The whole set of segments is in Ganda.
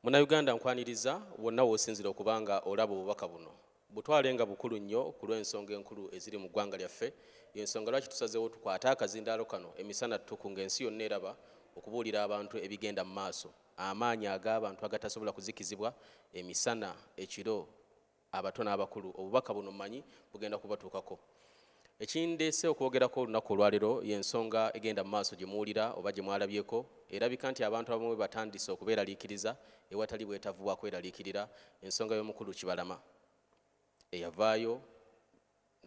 Munnayuganda nkwaniriza wonna w'osinzira okuba nga olaba obubaka buno butwale nga bukulu nnyo ku lw'ensonga enkulu eziri mu ggwanga lyaffe y'ensonga lwaki tusazeewo tukwate akazindaalo kano emisana ttuku ng'ensi yonna eraba okubuulira abantu ebigenda mu maaso amaanyi ag'abantu agatasobola kuzikizibwa emisana ekiro abato n'abakulu obubaka buno mmanyi bugenda kubatuukako ekindeese okwogerako olunaku olwalero y'ensonga egenda mu maaso gye muwulira oba gye mwalabyeko erabika nti abantu abamu batandise okubeeraliikiriza ewatali bwetavu bwa kweraliikirira ensonga y'omukulu kibalama eyavaayo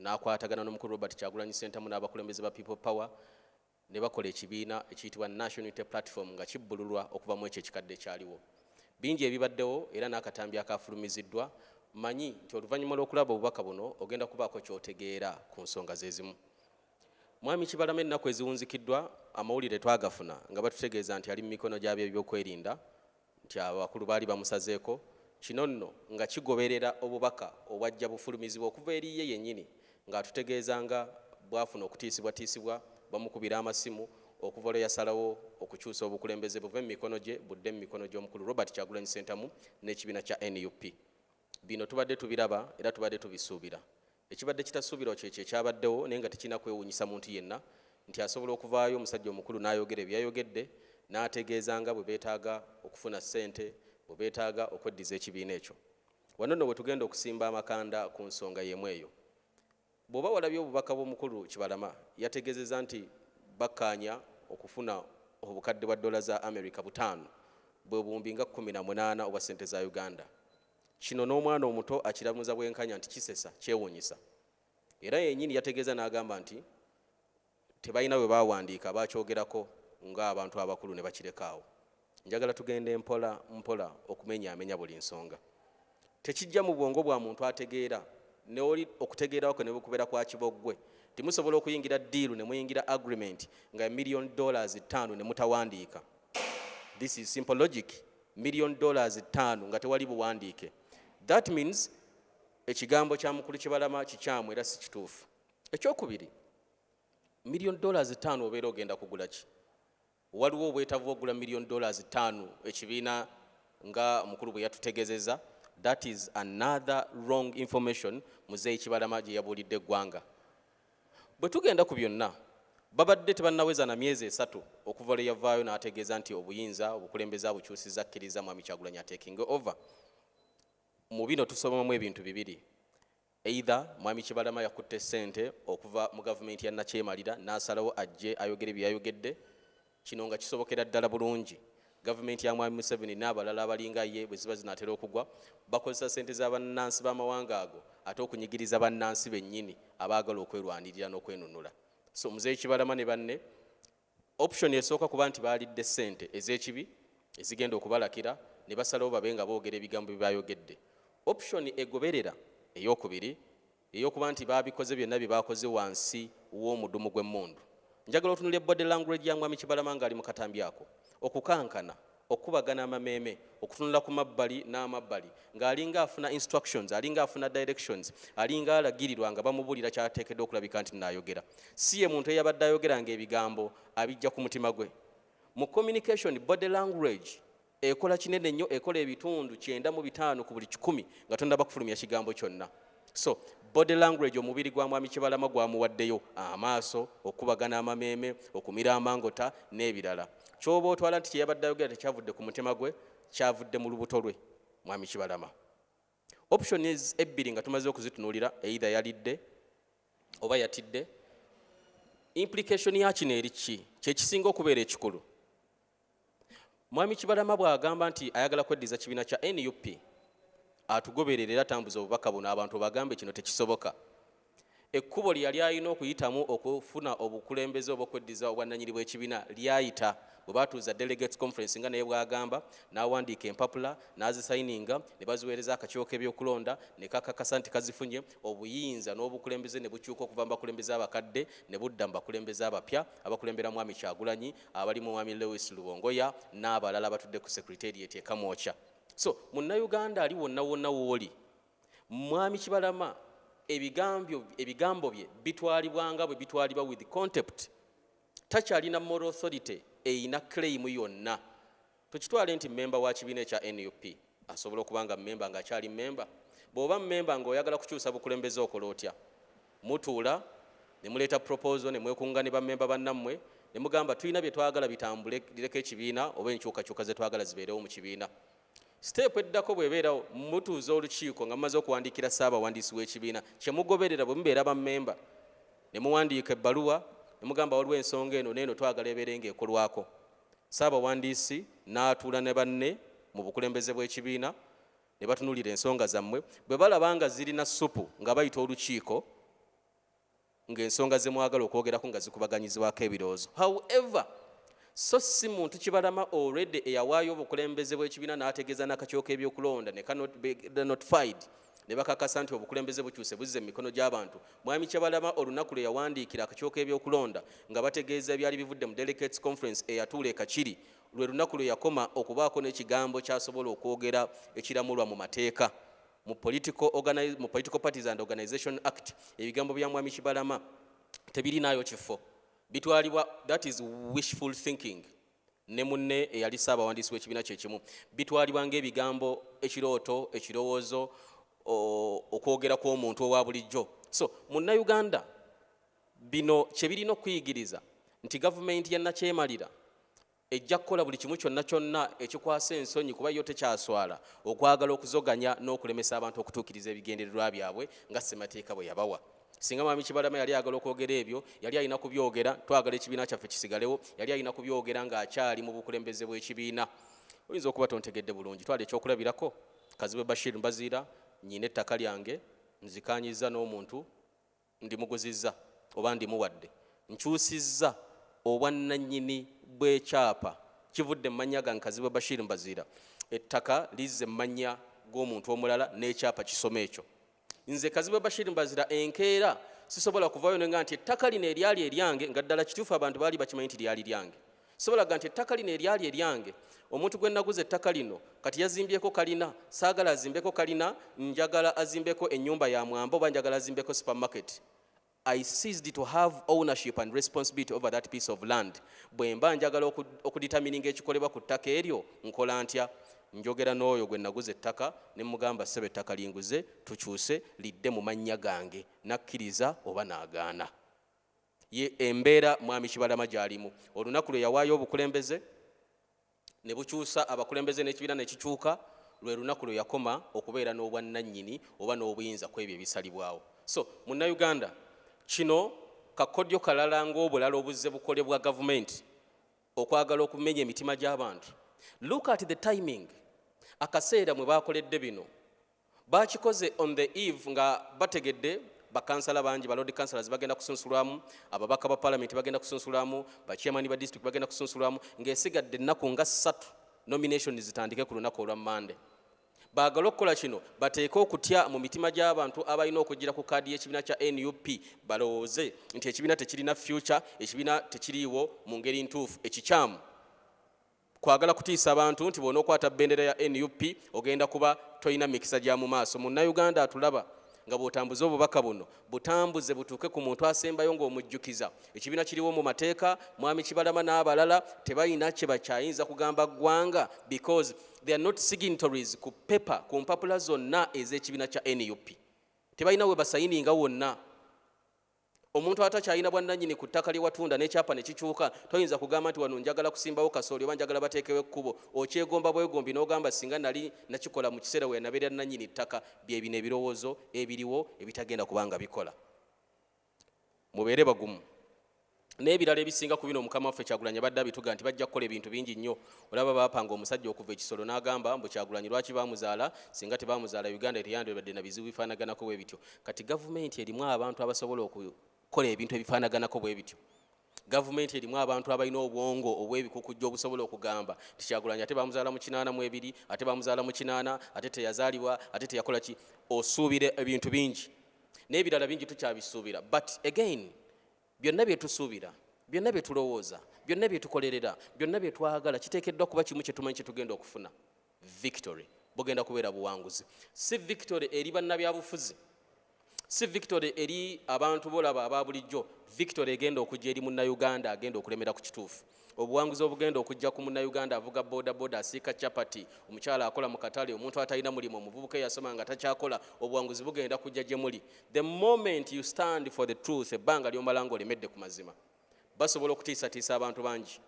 n'akwatagana n'omukulu robert kyagulanyi sentamu n'abakulembeze ba people power ne bakola ekibiina ekiyitibwa National Unity Platform nga kibbululwa okuva mu ekyo ekikadde ekyaliwo. Bingi ebibaddewo era n'akatambi akaafulumiziddwa, mmanyi nti oluvannyuma lw'okulaba obubaka buno ogenda kubaako ky'otegeera ku nsonga ze zimu. Mwami Kibalama ennaku eziwunzikiddwa amawulire twagafuna nga batutegeeza nti ali mu mikono gy'abeebyokwerinda nti abakulu baali bamusazeeko kino nno nga kigoberera obubaka obwajja bufulumizibwa okuva eri ye yennyini ng'atutegeeza nga bwafuna okutiisibwatiisibwa bamukubira amasimu okuva lwe yasalawo okukyusa obukulembeze buve mu mikono gye budde mu mikono gy'omukulu Robert Kyagulanyi Ssentamu n'ekibiina kya nup. Bino tubadde tubiraba era tubadde tubisuubira. Ekibadde kitasuubirwa kyekyo ekyabaddewo naye nga tekirina kwewuunyisa muntu yenna nti asobola okuvaayo omusajja omukulu n'ayogera ebyo yayogedde n'ategeeza nga bwe beetaaga okufuna ssente bwe beetaaga okweddiza ekibiina ekyo. Wano nno we tugenda okusimba amakanda ku nsonga y'emu eyo. Bw'oba walabye obubaka bw'omukulu Kibalama, yategeezezza nti bakkaanya okufuna obukadde bwa ddoola za Amerika butaano, bwe buwumbi nga kkumi na munaana obwa ssente za Uganda. Kino n'omwana omuto akiramuza bwenkanya nti kisesa, kyewuunyisa. Era yennyini yategeeza n'agamba nti tebalina bwe baawandiika abaakyogerako ng'abantu abakulu ne bakireka awo njagala tugende mpola mpola okumenyaamenya buli nsonga tekijja mu bwongo bwa muntu ategeera neoli okutegeerawo kwe ne bukubeera kwa kiboggwe timusobola okuyingira diiru ne muyingira agreement nga million dollars ttaano ne mutawandiika this is simple logic million dollars ttaano nga tewali buwandiike that means ekigambo kya mukulu kibalama kikyamu era si kituufu ekyokubiri million dollars ttaano obeera ogenda kugula ki waliwo obwetavu bwokugula million dollars ttaano ekibiina nga omukulu bwe yatutegezeza that is another wrong information muzeeyi kibalama gye yabuulidde eggwanga bwe tugenda ku byonna babadde tebannaweza na myezi esatu okuva lwe yavaayo n'ategeeza nti obuyinza obukulembeze abukyusiza akkiriza mwami kyagulanyi atekinge over mu bino tusomamu ebintu bibiri Either Mwami Kibalama yakutte ssente okuva mu gavumenti ya Nakyemalira n'asalawo ajje ayogere bye yayogedde. Kino nga kisobokera ddala bulungi gavumenti ya Mwami Museveni n'abalala abalinga ye bwe ziba zinaatera okugwa bakozesa ssente za bannansi b'amawanga ago ate okunyigiriza bannansi bennyini abaagala okwerwanirira n'okwenunula. So Mzee Kibalama ne banne Option esooka kuba nti baalidde ssente ez'ekibi ezigenda okubalakira ne basalawo babe nga boogera ebigambo bye baayogedde. Option egoberera, ey'okubiri, ye y'okuba nti baabikoze byonna bye baakoze wansi w'omudumu gw'emmundu. Njagala otunulire body language ya Mwami Kibalama ng'ali mu katambi ako. Okukankana, okukubagana amameeme okutunula ku mabbali n'amabbali ng'alinga afuna instructions alinga afuna directions alinga alagirirwa nga bamubulira kyateekeddwa okulabika nti naayogera si ye muntu eyabadde ayogera ng'ebigambo abijja ku mutima gwe mu communication body language ekola kinene nnyo ekola ebitundu kyenda mu bitaano ku buli kikumi nga tonaba kufulumya kigambo kyonna So body language omubiri gwa mwami Kibalama gwamuwaddeyo amaaso, okukubagana amameeme, okumira amangota n'ebirala. Ky'oba otwala nti kye yabadde ayogera tekyavudde ku mutima gwe, kyavudde mu lubuto lwe mwami Kibalama. Option is ebbiri nga tumaze okuzitunuulira either yalidde oba yatidde. Implication ya kino eri ki? Kye kisinga okubeera ekikulu. Mwami Kibalama bw'agamba nti ayagala kweddiza kibiina kya nup atugoberere era tambuza obubaka buno abantu bagambe kino tekisoboka ekkubo lye yali alina okuyitamu okufuna obukulembeze oba okweddiza obwannanyini bw'ekibiina lyayita bwe batuuza delegates conference nga naye bwagamba n'awandiika empapula n'azisayininga ne baziweereza akakiwo k'ebyokulonda ne kakakasa nti kazifunye obuyinza n'obukulembeze ne bukyuka okuva mu bakulembeze abakadde ne budda mu bakulembeze abapya abakulembera mwami kyagulanyi abali mu mwami Lewis Lubongoya n'abalala batudde ku Secretariat e Kamwokya. So munnayuganda ali wonna wonna wooli mwami Kibalama ebigambyo ebigambo bye bitwalibwa nga bwe bitwalibwa with contempt. Takyalina moral authority eyina claim yonna Tukitwale nti mmemba wa kibiina ekya nup asobola okuba nga mmemba ng'akyali mmemba? Bw'oba mmemba ng'oyagala kukyusa bukulembeze okola otya? Mutuula ne muleeta proposal ne mwekunga ne bammemba bannammwe ne mugamba tulina bye twagala bitambule lireko ekibiina oba enkyukakyuka ze twagala zibeerewo mu kibiina. Siteepu eddako bw'ebeerawo mutuuza olukiiko nga mumaze okuwandiikira ssaabawandiisi w'ekibiina kye mugoberera bwe mubeera bammemba ne muwandiika ebbaluwa ne mugamba waliwo ensonga eno n'eno twagala ebeere ng'ekolwako Ssaabawandiisi n'atuula ne banne mu bukulembeze bw'ekibiina ne batunuulira ensonga zammwe. Bwe balaba nga zirina ssupu nga bayita olukiiko ng'ensonga ze mwagala okwogerako nga zikubaganyizibwako ebirowoozo. However, so si muntu kibalama already eyawaayo obukulembeze bw'ekibiina n'ategeeza n'akakiiko k'ebyokulonda ne kanotified. ne bakakasa nti obukulembeze bukyuse buzze mu mikono gy'abantu mwami kyabalama olunaku lwe yawandiikira akakyoka ebyokulonda nga bategeeza ebyali bivudde mu delegates conference eyatuula ekakiri lwe lunaku lwe yakoma okubaako n'ekigambo kyasobola okwogera ekiramulwa mu mateeka mu political parties and organization act ebigambo bya mwami kibalama tebirinaayo kifo bitwalibwa that is wishful thinking ne munne eyali ssaabawandiisi w'ekibiina kye kimu bitwalibwa ng'ebigambo ekirooto ekirowoozo okwogera kw'omuntu owa bulijjo so munnayuganda bino kye birina okuyigiriza nti gavumenti ya nakyemalira ejja kukola buli kimu kyonna kyonna ekikwasa ensonyi kuba yo tekyaswala okwagala okuzoganya n'okulemesa abantu okutuukiriza ebigendererwa byabwe nga ssemateeka bwe yabawa singa mwami kibalama yali ayagala okwogera ebyo yali alina kubyogera twagala ekibiina kyaffe kisigalewo yali alina kubyogera ng'akyali mu bukulembeze bw'ekibiina oyinza okuba tontegedde bulungi twala ekyokulabirako kazibwe bashir mbaziira nyina ettaka lyange nzikanyiza n'omuntu ndimuguzizza oba ndimuwadde nkyusizza obwannanyini bw'ekyapa kivudde mu mannya gange kazibwe bashir mbaziira ettaka lizze mu mannya g'omuntu omulala n'ekyapa kisoma ekyo Nze Kazibwe Bashir Mbazira enkeera sisobola kuvaayo ne nga nti ettaka lino eryali eryange nga ddala kituufu abantu baali bakimanyi nti lyali lyange sobola ga nti ettaka lino eryali eryange omuntu gwe naguza ettaka lino kati yazimbyeko kalina saagala azimbeko kalina njagala azimbeko ennyumba ya mwamba oba njagala azimbeko supermarket I ceased to have ownership and responsibility over that piece of land. Bwemba njagala okuditamininga ekikolebwa ku ttaka eryo nkola ntya njogera n'oyo gwe naguza ettaka ne mugamba ssebe ettaka linguze tukyuse lidde mu mannya gange nakkiriza oba naagaana ye embeera mwami kibalama gyalimu olunaku lwe yawaayo obukulembeze ne bukyusa abakulembeze n'ekibiina ne kikyuka lwe lunaku lwe yakoma okubeera n'obwannannyini oba n'obuyinza ku ebyo ebisalibwawo so munnayuganda kino kakodyo kalala ng'obulala obuzze bukolebwa gavumenti okwagala okumenya emitima gy'abantu look at the timing akaseera mwe baakoledde bino Baakikoze on the eve nga bategedde bakansala bangi ba lord councilors bagenda kusunsulwamu ababaka ba palamenti bagenda kusunsulwamu bachairman ba district bagenda kusunsulwamu ng'esigadde ennaku nga ssatu nomination zitandike ku lunaku olwa mande baagala okukola kino bateeke okutya mu mitima gy'abantu abalina okugira ku kaadi y'ekibiina kya nup balowooze nti ekibiina tekirina future ekibiina tekiriiwo mu ngeri ntuufu ekikyamu Kwagala kutiisa bantu nti bw'onookwata bendera ya nup ogenda kuba tolina mikisa gya mu maaso. Munnayuganda atulaba nga bw'otambuza obubaka buno butambuze butuuke ku muntu asembayo ng'omujjukiza ekibiina kiriwo mu mateeka. Mwami Kibalama n'abalala tebalina kye bakyayinza kugamba ggwanga because they are not signatories ku paper ku mpapula zonna ez'ekibiina kya nup. Tebalina we basayininga wonna. omuntu atakyalina bwannanyini ku ttaka lyewatunda n'ekyapa ne kikyuka toyinza kugamba nti wano njagala kusimbawo kasooli oba njagala bateekewo ekkubo okyegomba bwegombi n'ogamba singa nali nakikola mu kiseera we yanabeera nnanyini ttaka bye bino ebirowoozo ebiriwo ebitagenda kubanga bikola mubeere bagumu n'ebirala ebisinga ku bino mukama waffe kyagulanyi abadde abituga nti bajja kukola ebintu bingi nnyo olaba baapanga omusajja okuva ekisolo n'agamba mbu kyagulanyi lwaki baamuzaala singa tebaamuzaala uganda teyandibadde na bizibu bifaanaganako bwe bityo kati gavumenti erimu abantu abasobola okukola ebintu ebifaanaganako bwe bityo gavumenti erimu abantu abalina obwongo obw'ebikukujja obusobola okugamba nti kyagulanyi ate bamuzaala mu kinaana mu ebiri ate bamuzaala mu kinaana ate teyazaalibwa ate teyakola ki osuubira ebintu bingi n'ebirala bingi tukyabisuubira but again byonna bye tusuubira byonna bye tulowooza byonna bye tukolerera byonna bye twagala kiteekeddwa kuba kimu kye tumanyi kye tugenda okufuna victory bugenda kubeera buwanguzi si victory eri bannabyabufuzi si victory eri abantu bolaba aba bulijjo victory egenda okujja eri munnayuganda agenda okulemera ku kituufu obuwanguzi obugenda okujja ku munnayuganda avuga bodaboda asiika chapati omukyala akola mu katale omuntu atalina mulimu omuvubuka eyasoma nga takyakola obuwanguzi bugenda kujja gye muli the moment you stand for the truth ebbanga lyomala nga olemedde ku mazima basobola okutiisatiisa abantu bangi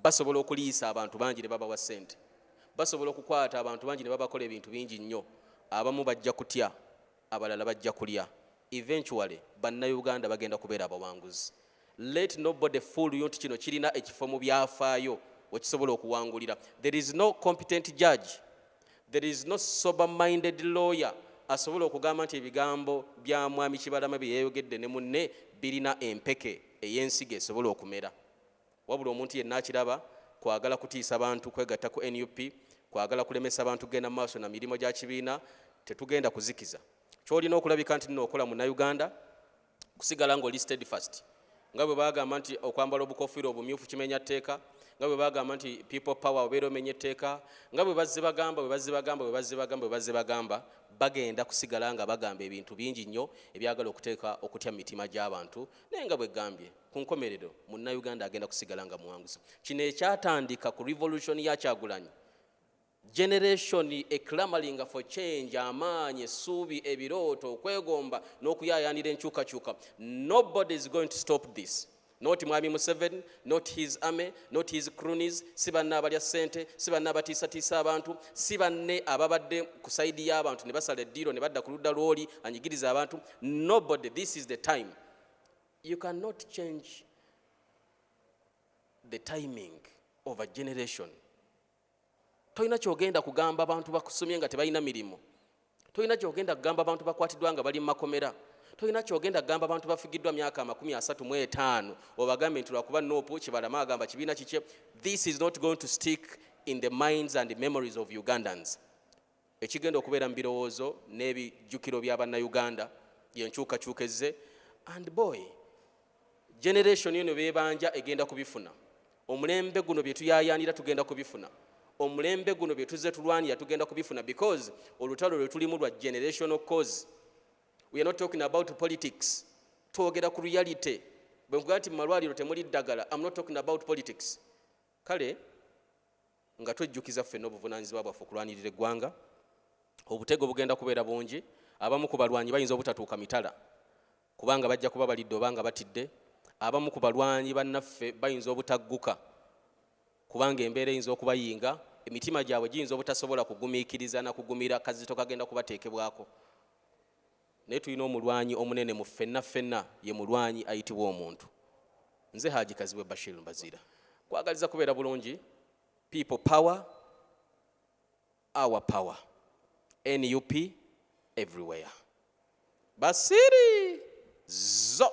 basobola okuliisa abantu bangi ne babawa ssente basobola okukwata abantu bangi ne babakola ebintu bingi nnyo abamu bajja kutya abalala bajja kulya eventually bannauganda bagenda kubeera abawanguzi let nobody fool you nti kino kirina ekifo mu byafaayo wekisobola okuwangulira there is no competent judge There is no sober minded lawyer asobola okugamba nti ebigambo bya mwami Kibalama bye yayogedde ne munne birina empeke ey'ensigo esobola okumera. Wabula omuntu yenna akiraba kwagala kutiisa bantu kwegatta ku nup, kwagala kulemesa bantu kugenda mu maaso na mirimu gya kibiina, tetugenda kuzikiza. Kyolina okulabika nti nno okola Munnayuganda, kusigala ng'oli steadfast nga bwe bagamba nti okwambala obukofiira obumyufu kimenya tteeka nga bwe bagamba nti people power obeera omenya etteeka nga bwe bazze bagamba bwe bazze bagamba bwe bazze bagamba bwe bazze bagamba bagenda kusigala nga bagamba ebintu bingi nnyo ebyagala okuteeka okutya mu mitima gy'abantu naye nga bwe gambye ku nkomerero munnayuganda agenda kusigala nga muwanguzi kino ekyatandika ku revolution ya kyagulanyi Generation e clamoring for change, amaanyi, essuubi, ebirooto, okwegomba n'okuyaayaanira enkyukakyuka. Nobody is going to stop this. Not Mwami Museveni, not his army, not his cronies, si banna abalya ssente, si banna abatiisatiisa abantu, si banne ababadde ku saidi y'abantu ne basala eddiiro ne badda ku ludda lw'oli anyigiriza abantu. Nobody, this is the time. You cannot change the timing of a generation. tolina kyogenda kugamba abantu bakusomye nga tebalina mirimu tolina kyogenda kugamba abantu bakwatiddwa nga bali mu makomera tolina kyogenda kugamba abantu bafigiddwa myaka amakumi asatu mu etaano obagambe nti lwakuba noopu kibalama agamba kibiina kikye this is not going to stick in the minds and the memories of ugandans Ekigenda okubeera mu birowoozo n'ebijjukiro bya Bannayuganda y'enkyukakyuka ezze and boy generation eno bebanja egenda kubifuna omulembe guno bye tuyayaanira tugenda kubifuna omulembe guno bye tuzze tulwanira tugenda kubifuna because olutalo lwe tulimu lwa generational cause we are not talking about politics twogera ku reality bwe nkugaa nti mu malwaliro temuli ddagala am not talking about politics kale nga twejjukiza ffenna obuvunaanyizibwa bwaffe okulwanirira eggwanga obutego bugenda kubeera bungi abamu ku balwanyi bayinza obutatuuka mitala kubanga bajja kuba balidde oba nga batidde abamu ku balwanyi bannaffe bayinza obutagguka kubanga embeera eyinza okubayinga emitima gyabwe giyinza obutasobola kugumiikiriza na kugumira kazito kagenda kubateekebwako Naye tulina omulwanyi omunene mu ffenna ffenna, ye mulwanyi ayitibwa omuntu. Nze Haji Kazibwe Bashir Mbaziira, kwagaliza kubeera bulungi. People power, our power. NUP everywhere. Basiri zo